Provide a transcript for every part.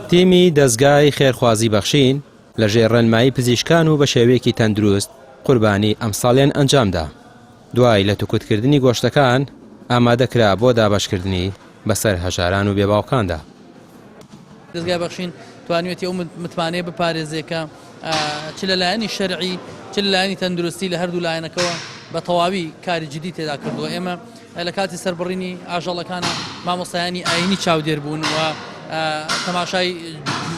تیمی دەزگای خێرخوازی بەخشین لە ژێر ڕێنمایی پزیشکان و بە شێوەیەکی تەندروست قوربانی ئەمساڵیان ئەنجامدا دوای لە توکوتکردنی گۆشتەکان ئامادەکرا بۆ دابەشکردنی بەسەر هەژاران و بێباوکاندا دەزگای بەخشین توانیوێتی ئەو متمانەیە بپارێزێ کە چ لە لایەنی شەرعی چ لە لایەنی تەندروستی لە هەردوو لایەنەکەەوە بە تەواوی کاری جدی تێدا کردووە ئێمە لە کاتی سەربڕینی ئاژەڵەکانە مامۆستایانی ئاینی چاودێر بوون و تەماشای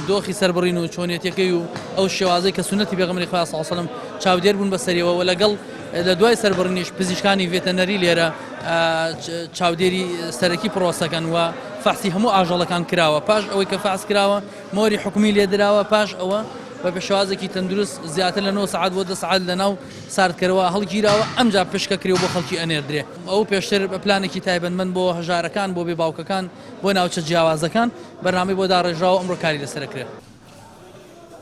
دۆخی سەربڕین و چۆنیەتەکەی و ئەو شێوازی کە سنەتی بێغمری خوا ساسەلم چاودێر بوون بەسەریەوە و لەگەڵ لە دوای سەربڕنیش پزیشکانی ڤێتەنەری لێرە چاودێری سەرەکی پرۆسەکەن و فەحسی هەموو ئاژەڵەکان کراوە پاش ئەوەی کە فاس کراوە مۆری حکومی لێدراوە پاش ئەوە بە پێشوازێکی تەندروست زیاتر لە 9 سعات بۆ دە سعات لە ناو ساردکەرەوە هەڵگیراوە ئەمجا پشکەکرێ و بۆ خەڵکی ئەنێردرێ. ئەو پێشتر پلانێکی تایبەتمەند بۆ هەژارەکان، بۆ بێ باوکەکان، بۆ ناوچە جیاوازەکان بەرنامەی بۆ داڕێژرا و ئەمڕۆ کاری لەسەر ئەکرێ.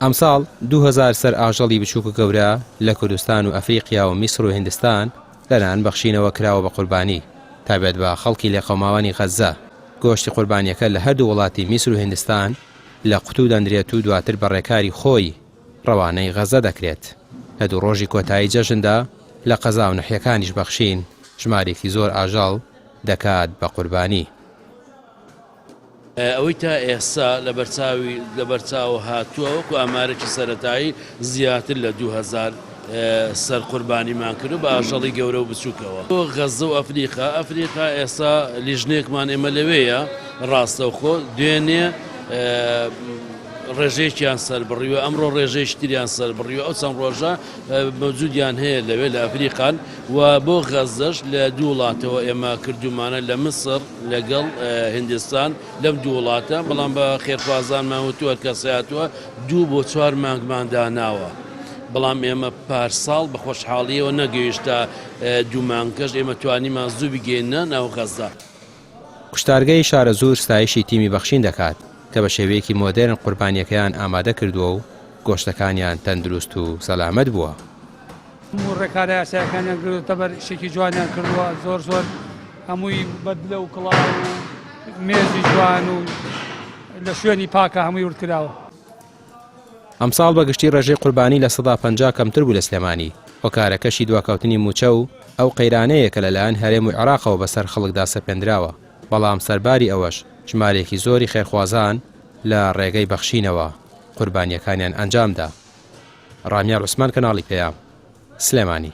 ئەمساڵ دوو هەزار سەر ئاژەڵی بچووک و گەورە لە کوردستان و ئەفریقیا و میسر و هیندستان لە لایەن بەخشینەوە کراوە بە قوربانی تا بێت بە خەڵکی لێقەوماوانی غەززە. گۆشتی قوربانیەکە لە هەردوو وڵاتی میسر و هیندستان لە قوتوو دەنرێت و دواتر بە ڕێکاری خۆی ڕەوانەی غەزە دەکرێت. لە دوو ڕۆژی کۆتایی جەژندا لە قەزا و نەحیەکانیش بەخشین ژمارێکی زۆر ئاژەڵ دەکات بە قوربانی. ئەوەی تا ئێستا لەبەرچاو هاتووە وەکو ئامارێکی سەرەتایی زیاتر لە دوو هەزار سەر قوربانیمان کردووە بە ئاژەڵی گەورە و بچووکەوە بۆ غەزە و ئەفریقا. ئەفریقا ئێستا لیژنەیەکمان ئێمە لەوێیە ڕاستەوخۆ دوێنێ ڕێژەیەکیان سەربڕیوە ئەمڕۆ ڕێژەیەکی تریان سەربڕیوە ئەو چەند ڕۆژە مەوجودیان هەیە لەوێ لە ئەفریقان و بۆ غەزەش لە دوو وڵاتەوە ئێمە کردومانە لە مسر لەگەڵ هندستان لەم دوو وڵاتە بەڵام بە خێرخوازانمان وتووە کەساتوە دوو بۆ چوار مانگمان داناوە. بەڵام ئێمە پارساڵ بە خۆشحاڵیەوە نەگەیشتە دوومانکەش ئێمە توانیمان زوو بگەینە ناو غەزە. کوشتارگەی شارەزوور ستایشی تیمی بەخشین دەکات کە بە شێوەیەکی مۆدێرن قوربانییەکەیان ئامادە کردووە و گۆشتەکانیان تەندروست و سەلامەت بووە. هەموو ڕێکارە یاسایەکانیان گرتووەتە بەر، ئیشێکی جوانیان کردووە، زۆر زۆر هەمووی بە دلە و کڵاو و مێزی جوان و لە شوێنی پاکە هەمووی ورد کراوە. ئەمساڵ بە گشتی ڕێژەی قوربانی لە سەدا پەنجا کەمتر بوو لە سلێمانی هۆکارەکەشی دواکەوتنی مووچە و ئەو قەیرانەیە کە لەلایەن هەرێم و عێراقەوە بەسەر خەڵکدا سەپێندراوە بەڵام سەرباری ئەوەش ژمارەیەکی زۆری خێرخوازان لە ڕێگەی بەخشینەوە قوربانیەکانیان ئەنجامدا ڕامیار عوسمان کەناڵی پەیام سلێمانی.